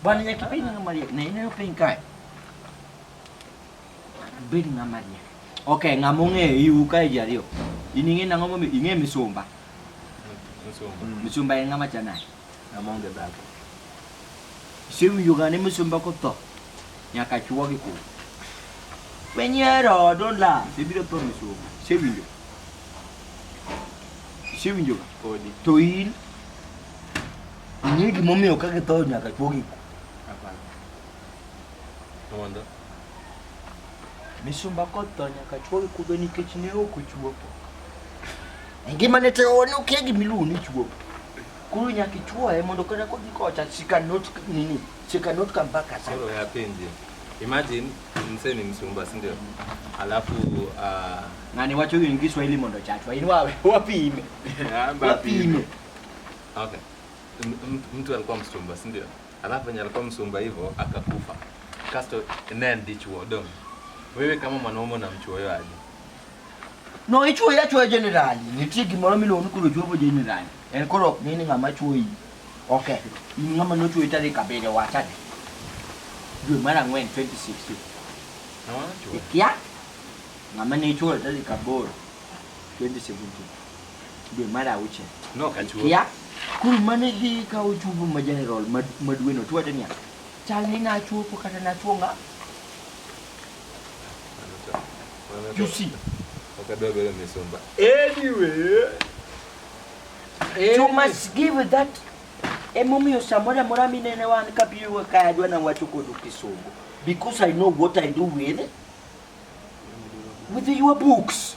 Bwana Nyaki, bedi nga Maria. Na ina yo piny kae. Bedi nga Maria. Okay, ng'ama ong'eyo iu kae ji ariyo. In ing'e nang'o momiyo ing'e misumba. Misumba en ng'ama chanani. Amonge baba. Siu yugane musumba ko to. Nyaka chuo gi ku. Wenyero don la. Ibiro to musumba. Siu yo. Siu yo. Odi. To in. Ni gimomiyo ka githo nyaka chuo gi ku. Apana. Mondo. Misumba koth to nyaka chwo gi kudho nikech ne ok ochuopo. E ngima ne te one okia gima iluongo ni chuopo. Koro nyaka ichuoye mondo kata kodhi kocha she cannot nini she cannot come back as Sasa ya penzi. Imagine msee ni msumba, si ndio? Alafu ah, ng'ani wacho yini gi Kiswahili mondo chachwa in wawe wapime wapime okay. M- m- Mtu alikuwa msumba, si ndio? alafu venye alikuwa msumba hivyo akakufa kasto naye ndichuo dong wewe kama mwanaume unamchuo yo aje no ichuo yachuo generali nitie gimoro miluongo ni koro juobo generali en koro ok ng'e ni ng'ama chuo iyi okay in ng'ama nochuo tarik abiriyo wachane dwe mar ang'wen 2016 ikia ng'ama ne ichuo tarik aboro 2017 dwe mar auchiel kia kul mane dhi ka ochupo ma general ma dweno to wacho niya chal ni nachuopo kata nachuo ng'a you see anyway you must give that emomiyo samoro amora minene wan kabiyo ka adwa na wacho kodu kisungu because i know what i do with with your books